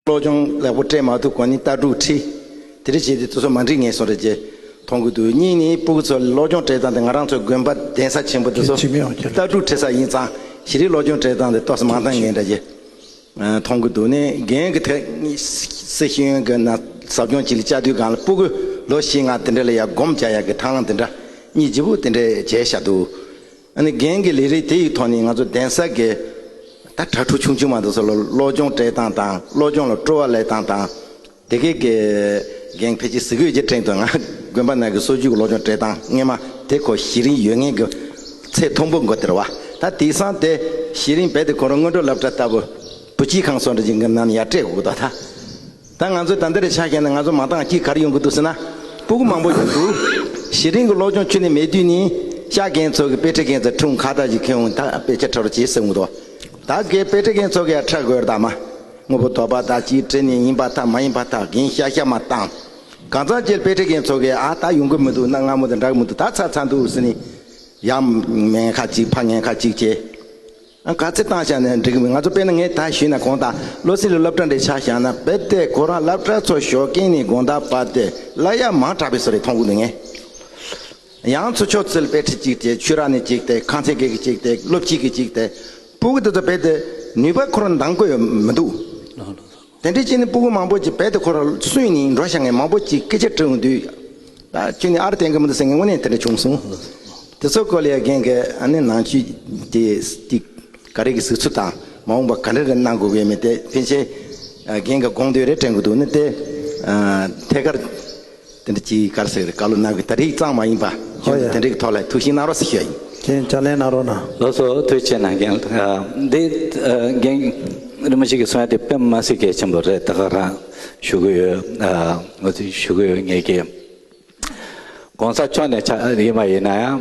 བློ་སྦྱོང་ལེགས་པོ་སྤྲད་མ་ཐུབ་གོང་ནི་རྟ་དྲུག་ཁྲི། དེ་རིགས་བྱས་ཏེ་ཚོ་མ་འགྲིག་ངེས་སོང་རེད་ཅེས་མཐོང་གི་འདུག་གཉིས་ནི་སྤུ་གུ་ཚོ་བློ་སྦྱོང་སྤྲད་སྟངས་དེ་ང་རང་ཚོའི་དགོན་པ་གདན་ས་ཆེན་པོ་འདི་ཚོ་རྟ་དྲུག་ཁྲི་ས་ཡིན་ཙང་གཞི་རིགས་བློ་སྦྱོང་སྤྲད་སྟངས་དེ་སྟོགས་ས་མང་ཐང་ངེས་འདྲ་ཅེས་མཐོང་གི་འདུག་ནས་རྒན་གི་ཐེག་སེ་ཤེས་ཡོན་གྱི་ན་ཟབ་སྦྱོང་བྱེད་ལ་བཅའ་དུས་སྒང་ལ་སྤུ་གུ་ལོ་བཞི་ལྔ་དེ་འདྲ་ལ་ཡར་སྒོམ་བྱ་ཡག་གི་ཐང་ལ་འདི་འདྲ་གཉིས་བརྗེ་པོ་དེ་འདྲས་བྱས་ཤག་འདུག། ཨ་ནི་རྒན་གྱི་ལས་རིགས་དེ་ཡི་ཐོག་ནས་ང་ཚོ་གདན་ས་དགེ། ད་དྲ་ཕྲུག་ཆུང་ཆུང་མ་དག་སོགས་ལ་བློ་སྦྱོང་སྤྲད་སྟངས་དང་བློ་སྦྱོང་ལ་སྤྲོ་བ་ལས་སྟངས་དང། དེ་གའི་དགེ། རྒན་ཕལ་ཆེར་གཟིགས་འོས་ཀྱི་ཁྲེང་ཏུའུ་ང་དགོན་པ་རྣམས་ཀྱི་སྲོལ་རྒྱུན་གྱི་བློ་སྦྱོང་སྤྲད་སྟངས་སྔས་མ་དེ་ཁོ་གཞི་རིམ་ཡོད་ངེས་ཀྱི་ཚེ་ཐོང་པོ་མགོ་དེར་བ་ད་དེ་སང་དེ་གཞི་རིམ་བས་དེ་གོ་རོ་སྔོན་འགྲོ་བསླབ་གྲ་ལྟ་བུ། བུ་སྐྱིད་ཁང་སོགས་འདྲ་གྱི་འགུལ་རྣམ་ཡར་སྤྲད་དགོས་དོ་ད། ད་ང་ཚོའི་ད་འདི་རེ་ཆགས་མཁན་ནི་ང་ཚོ་མང་དག་སྐྱིད་གར་ཡོང་གི་འདུག་ཟེར་ན་སྤུ་གུ་མང་པོ་ཡོད་འདུག་གཞི་རིང་གི་ལོ་ཆུང་ཁྱོད་ནི་མེད་དུས་ནི་ཤག་རྒན་ཚོ་གི་དཔེ་ཁྲིད་མཁན་ཚོས་འཁྲུངས་ཁ་ལྟ་ཅི་ཁེའུ་ད་དཔེ་ཆ་ཕྲ་རུ་གྱིས་ཟེར་འུ་ཐོག་ད་གེ་དཔེ་ཁྲིད་མཁན་ཚོ་གི་ཡང་ཕྲ་དགོས་རེད་ད་མ་དངོས་པོ་དོག་པ་ད་གྱིས་ཁྲིད་ནི་ཡིན་པ་ཐག་མ་ཡིན་པ་ཐག་གིན་ཤག་ཤག་མ་བཏང་གང་ཚང་ཁྱེད་དཔེ་ཁྲིད་མཁན་ཚོ་གི་ཨ་ད་ཡོང་གི་མི་འདུག་གནའ་སྔ་མོ་དང་འདྲ་གི་མི་འདུག་ད་ཚར་ཚར་འདུག་ཟེར་ནི་ཡ་མེན་ཁ་གཅིག་ཕ་ངན་ཁ་གཅིག་བྱེད། ག་ཚད་བཏང་བཞག་ནས་འགྲིག་མི་ང་ཚོ་དཔེ་ན་ངས་ད་ཞུས་ན་གོང་ད་བློ་སེང་ལ་སློབ་གྲྭ་འདྲེ་ཆགས་བཞག་ན་རྦད་དེ་ཁོ་རང་སླབ་གྲྭ་ཚོ་ཞོག་གིན་ནི་དགོངས་དག་པ་དེ་བླ་གཡག་མང་དྲགས་པའི་སོ་རེད་མཐོང་གི་འདུག་ངས་ཡང་ཚོ་ཆོག་ཚུལ་དཔེ་ཁྲིད་ཅིག་དེ་ཆོས་ར་ནས་ཅིག་དེ་ཁང་ཚན་གེ་གི་ཅིག་དེ་སློབ་སྤྱི་གི་ཅིག་དེ་སྤུ་གི་དེ་ཚོ་རྦད་དེ་ནུས་པ་ཁོ་རང་འདང་དགོས་ཡོད་མི་འདུག། དེ་འདྲའི་ཁྱི་ནི་སྤུ་གུ་མང་པོ་ཅིག་བད་དེ་འཁོར་བ་སུས་ནི་འགྲོ་བྱ་ངས་མང་པོ་ཅིག་སྐད་ཆ་དྲིའུ་འདུས། ཁྱི་ནི་ཨར་དེང་གི་མི་འདུག་སེང་གེ་དངོས་གནས་དེ་འདྲ་བྱུང་སོང། དེ་ཚོ་ཀོ་ལི་ཡའི་རྒན་གི་ཨ་ནེ་ནང་བཅུད་དེ་ཅིག་ག་རེ་གི་ཟིག་ཚུལ་དང་མ་འོངས་པ་ག་འདྲ་རེ་གནང་དགོས་ཀྱི་ཡོད་མེད་དེ་ཕལ་ཆེར་རྒན་གི་དགོངས་དོན་རེ་དྲན་དགོས་འདུག་ནི་དེ་ཐད་ཀར། དེ་འདྲ་གྱིས་གར་ཟེར་བཀའ་སློབ་གནང་གི་ད་རེས་གཙང་མ་ཡིན་པ་ཁྱོད་ཚོ་དེ་འདྲའི་ཐོག་ལ་ཐུགས་ཞིང་གནང་རོགས་ཟེར་ཞུ་བ་ཡིན། ཁྱེད་ཕྱག་ལེན་གནང་རོགས་གནང། ལོ་སོ་དུས་ཆེ་ན་རྒན་འདི་རྒན་རིན་པོ་ཆེ་གི་གསུང་ཡ་དེ་པེན་མ་སི་གེ་ཆེན་པོ་རེད་ད་ག་རང་ཞུ་གི་ཡོད་ངོ་ཚུལ་ཞུ་གི་ཡོད་ངེས་ཀྱི་གོང་ས་མཆོག་ནས་ཕྱག་ཡིན་མ་ཡིན་ན་ཡང།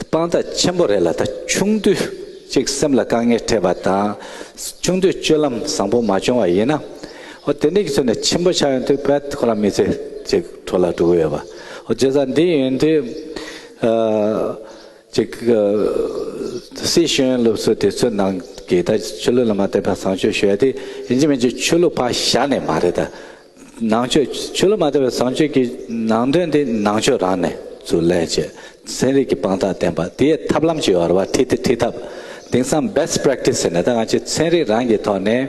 དཔང་རྟགས་ཆེན་པོ་རེད་ལ་ད་ཆུང་དུས་གཅིག་སེམས་ལ་དཀའ་ངལ་འཕྲད་པ་དང་ཆུང་དུས་སྤྱོད་ལམ་བཟང་པོ་མ་བྱུང་བ་ཡིན་ན། འོ་དེ་འདྲ་གི་ཚོད་ནས་ཆེན་པོ་ཆགས་ཡོང་དུས་བེད་ཁོ་རང་མི་ཚེ་གཅིག་བྲོ་ལ་འགྲོ་གི་ཡོད་པ། འོ་རྗེས་ས་འདི་ཡོན་དུས་གཅིག་སྲིད་གཞུང་སློབ་གསོ་དེ་ཚོའི་ནང་གི་ད་ཆོས་ལུགས་ལ་མ་བལྟས་པ་བཟང་སྤྱོད་ཞུ་ཡ་དེ་ཡིན་གྱི་མིན་གྱི་ཆོས་ལུགས་ཕ་ཞག་ནས་མ་རེད་ད། ནང་ཆོས་ཆོས་ལ་མ་བལྟ་བའི་བཟང་སྤྱོད་ཀྱི་ནང་དོན་དེ་ནང་ཆོས་རང་ནས་ཚུར་ལས་བྱེད་ཚན་རིག་གི་དཔང་རྟགས་བསྟན་པ་དེའི་ཐབས་ལམ་གྱི་བར་བ་ཐི་ཐི་ཐི་ཐབས་དེང་སང Best Practice ཟེར་ནས་ད་ང་ཆོས་ཚན་རིག་རང་གི་ཐོག་ནས་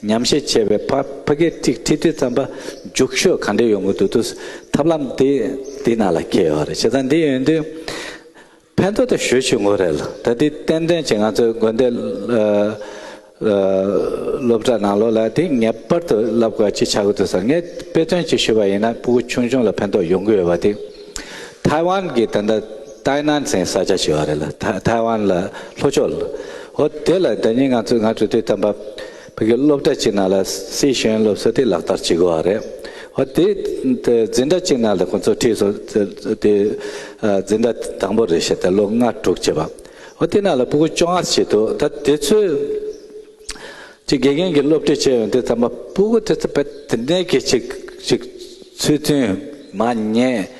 ཉམས་ཞིབ་བྱས་པའི་ཕ་ཕ་གི་ཐི་ཐི་ཐི་ཙམ་པ་རྒྱུགས་ཤོས་ག་འདྲས་ཡོང་གི་འདུག་ཐུགས་ཐབས་ལམ་དེ་དེ་ནང་ལ་ཁེལ་ཡོད་རེད་བྱས་ཙང་འདི་ཡོང་དུས་ཕན་ཐོགས་དང་ཞོལ་ཆུ་ངོས་རེ་ལ་ད་ལྟའི་ཏན་ཏན་གྱི་ང་ཚོའི་དགོན་སྡེ་སློབ་གྲྭ་ནང་ལོ་ལ་དེ་ངེས་པར་དུ་བསླབ་དགོས་ཅི་ཆགས་ཀྱི་འདུག་ཟེར་ངས་དཔེ་སྟོན་གྱིས་ཞུས་པ་ཡིན་ན་སྤུ་གུ་ཆུང་ཆུང་ལ་ཕན་ཐོགས་ཡོང་གི་ཡོད་པ་དེ་ཐའེ་ཝན་གྱི་ད་ལྟ་ཏཱའི་ནན་ཚན་ས་ཆ་ཞེས་བ་རེ་ལ་ཐའེ་ཝན་ལ་ལྷོ་ཕྱོགས་ལ་ཨོ་དེ་ལ་ད་ཉིན་ང་ཚོས་ང་དྲུག་དུས་དམ་པ་བོད་ཀྱི་སློབ་གྲྭ་གཅིག་ནང་ལ་སའི་གཞོན་སློབ་གསོ་དེ་ལག་བསྟར་བྱེད་དགོས་བ་རེད། འོ་དེ་འཛིན་གྲྭ་གཅིག་ནང་ལ་ཁོང་ཚོ་ཁྲིད་སོང་དེ་འཛིན་གྲྭ་དང་པོ་རེད་བཤད་དེ་ལོ་ལྔ་དྲུག་བྱས་པ། འོ་དེ་ནང་ལ་སྤུ་གུ་བཅོ་ལྔ་བྱས་འདུག་ད་དེ་ཚོས་ཀྱི་དགེ་རྒན་གྱི་སློབ་ཁྲིད་བྱས་ཡོང་དེ་ཚང་མ་སྤུ་གུ་དེ་ཚོ་དཔེ་དེ་འདྲའི་གི་ཅིག་ཅིག་ཚུལ་མཐུན་མ་རྙེད།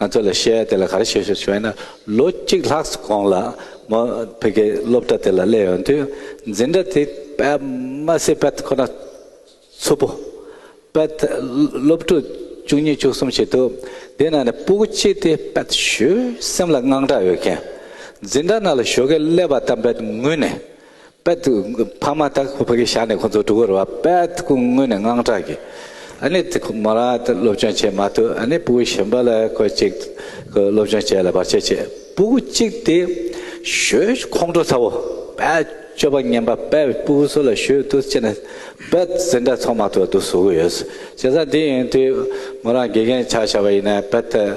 ང་ཚོ་ལ་བཤད་དེ་ལ་ག་རེ་བྱེད་ཞོར་བྱོས་ན་ལོ་གཅིག་ལྷག་གསུམ་གོང་ལ་མོ་བོད་སྐད་སློབ་གྲྭ་དེ་ལ་སླེབས་ཡོང་དུས་འཛིན་གྲྭ་དེ་པདྨ་སེ་པད་ཁོ་ན་ཚུར་པོ་པད་སློབ་ཕྲུག་བཅུ་གཉིས་བཅུ་གསུམ་ཞིག་འདུག་དེའི་ནང་ནས་སྤུ་གུ་གཅིག་དེ་པད་ཞུ་སེམས་ལ་དངངས་སྐྲག་ཡོད་མཁན་འཛིན་གྲྭ་ནང་ལ་ཞོ་གས་བསླད་པ་ལྟར་པད་ངུས་ནས། པད་དུ་ཕ་མ་དག་ཕ་གི་ཞག་ནས་ཁོ་ཚོ་དྲུག་གོ་རེ་བ་པད་ཀུ་ངུས་ནས་དངངས་སྐྲག་གིས། ཨ་ནེ་དེ་ཁོ་མོ་རང་ཨ་སློབ་སྦྱོང་བྱེད་མ་ཐུབ་ཨ་ནེ་སྤུ་གུ་གཞོན་པ་ལ་ཁོ་གཅིག་སློབ་སྦྱོང་བྱེད་ལ་བར་ཆད་བྱེད་སྤུ་གུ་གཅིག་དེ་ཞོའི་ཁོང་ཁྲོ་ཚ་བོ་པད་སྤྱོད་པ་ངན་པ་པད་བའི་སྤུ་གུ་སུ་ལ་ཞོའི་དུ་བཅད་ནས་པད་ཟིན་འདྲ་ཚོང་མ་ཐུབ་དུ་ཟུག་གི་ཡོད་བྱས་ཙང་འདི་ཡིན་དུས་མོ་རང་དགེ་རྒན་ཆགས་བཞག་པ་ཡིན་ནས་པད།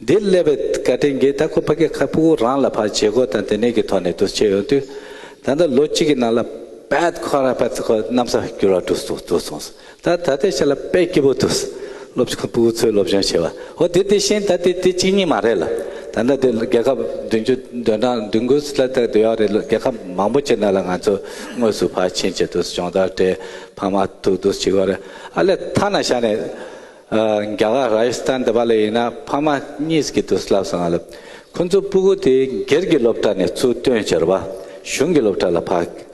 འདིར་སླེབས་པའི་བཀའ་དྲིན་རྒན་ཐ་ཁོ་ཕ་གེ་ཁ་སྤུ་གུ་རང་ལ་ཕར་བྱེད་སྒོ་དང་དེ་ནས་ཀྱི་ཐོག་ནས་བསྡུ་བྱེད་ཡོང་དུས། ད་ལྟ་ལོ་གཅིག་གི་ནང་ལ་པད་ཁོ་ར་པད་ཁོ་གནམ་ས་བསྒྱུར་བ་འགྲོ་སོང་འགྲོ་སོང་ད་ད་ལྟའི་ཆ་ལ་པད་སྐྱིད་པོ་འདུག་སློབ་ཆུང་སྤུ་གུ་ཚོའི་སློབ་སྦྱོང་བྱེད་པ་ཧོ་དེ་དེ་བཞིན་ད་དེ་དེ་གཅིག་གཉིས་མ་རེད་ལ་ད་ལྟ་དེ་རྒྱལ་ཁབ་བདུན་ཅུ་དོན་གྲངས་བདུན་དགུ་ལ་ལྟ་དུ་ཡག་རེད་རྒྱལ་ཁབ་མང་པོ་བྱེད་ན་ལ་ང་ཚོ་དངོས་སུ་ཕར་ཕྱིན་བྱེད་དུ་སྦྱོང་བརྡར་དེ་ཕ་མ་ཐུག་དུ་བྱེད་དགོས་རེད་ཨ་ལས་ཐ་ན་བཞག་ནས། རྒྱ་གར་རཱ་ཡི་སི་ཐན་འདི་པ་ལ་ཡིན་ན་ཕ་མ་གཉིས་ཀྱི་དུས་ལབ་སོང་ང་ལབ། ཁོ་ཚོ་སྤུ་གུ་དེ་སྒེར་གྱི་སློབ་གྲྭ་ནས་ཚུར་བཏོན་ཕྱིར་བ་གཞུང་གི་སློབ་གྲྭ་ལ་ཕ་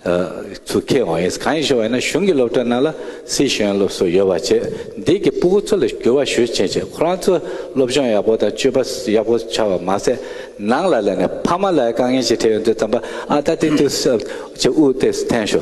ཚུར་ཁྱེར་འོང་ཡིན་གང་ཡིན་ཞུ་བ་ཡིན་ན་གཞུང་གི་སློབ་གྲྭ་རྣམས་ལ་སྲིད་གཞུང་སློབ་གསོ་ཡོད་པ་བྱེད་འདི་གི་སྤུ་གུ་ཚོ་ལ་འགྱུར་བ་ཞུ་ཆེན་བྱེད་ཁོ་རང་ཚོ་སློབ་སྦྱོང་ཡག་པོ་དང་སྤྱོད་པ་ཡག་པོ་ཆགས་བ་མ་ཟད་ནང་ལ་ལས་ནས་ཕ་མ་ལ་དཀའ་ངལ་ཞིག་འཕྲད་ཡོང་དུས་ཙམ་པ་ཨ་ད་དེ་དུས་ཚོད་དབུ་ཏེ་སི་ཐན་ཞོ